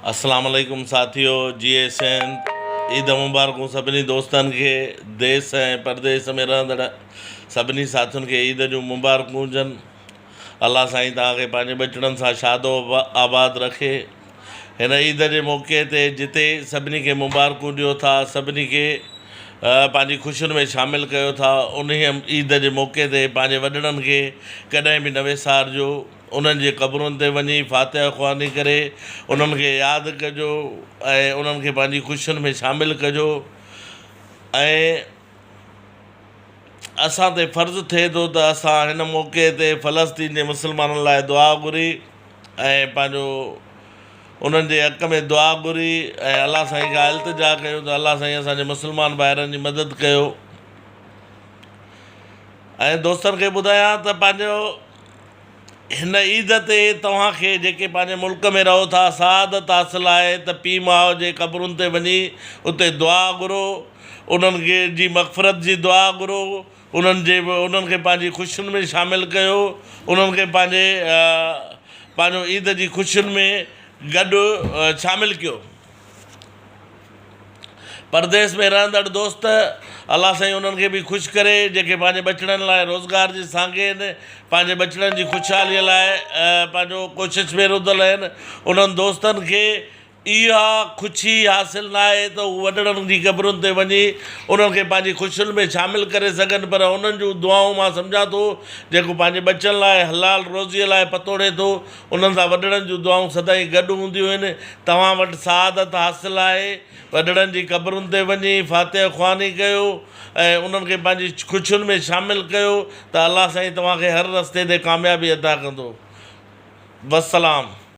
اسلام عليڪم ساٿيو جي اي سنڌ عيد مبارڪون سڀني دوستن کي ديس ۽ پرديس ۾ رهندڙ سڀني ساٿين کي عيد جون مبارڪون هجن الله سائين توهان کي پنهنجي ٻچڙن سان شادو آباد رکي هن عيد جي موقعي تي جتي سڀني کي مبارڪون ڏيو ٿا سڀني کي پنهنجي خوشين ۾ شامل ڪيو ٿا انهي عيد جي موقعي تي پنهنجي وڏڙن کي ڪڏهن به نه وسارجو انهن جي قبرن تي وڃي فاتحه خواني ڪري انهن کي ياد ڪجو ۽ انهن کي پنهنجي خوشين ۾ شامل ڪجو ۽ اسان تي فرض ٿئي ٿو ته اسان هن موقعي تي فلسطين جي مسلمانن لاء دعا گهري ۽ پنهنجو انهن جي حق ۾ دعا گهري ۽ الله سائين کان التجا ڪيون ته الله سائين اسان جي مسلمان ڀائرن جي مدد ڪيو ۽ دوستن کي ٻڌايان ته پنهنجو هن عيد تي توهان کي جيڪي پنهنجي ملڪ ۾ رهو ٿا سعادت حاصل آهي ته پيء ماء جي قبرن تي وڃي اتي دعا گهرو انهن جي مغفرت جي دعا گهرو انهن جي انهن کي پنهنجي خوشين ۾ شامل ڪيو انهن کي پنهنجي پنهنجو عيد جي خوشين ۾ گڏ شامل ڪيو پرديس ۾ رهندڙ دوست، الله سائين انهن کي به خوش ڪري، جيڪي پنهنجي ٻچڙن لاء روزگار جي سانگي آهن، پنهنجي ٻچڙن جي خوشحاليء لاء پنهنجو ڪوشش ۾ رڌل آهن. انهن دوستن کي اها خوشي حاصل ناهي ته هو وڏڙن جي قبرن تي وڃي انهن کي پنهنجي خوشين ۾ شامل ڪري سگهن، پر انهن جون دعائون مان سمجهان ٿو، جيڪو پنهنجي ٻچن لاء حلال روزيء لاء پتوڙي ٿو، انهن سان وڏڙن جون دعائون سدائين گڏ هونديون آهن. توهان وٽ سعادت حاصل آهي، وڏڙن جي قبرن تي وڃي فاتحه خواني ڪيو ۽ انهن کي پنهنجي خوشين ۾ شامل ڪيو ته الله سائين توهان کي هر رستي تي ڪاميابي عطا ڪندو. والسلام.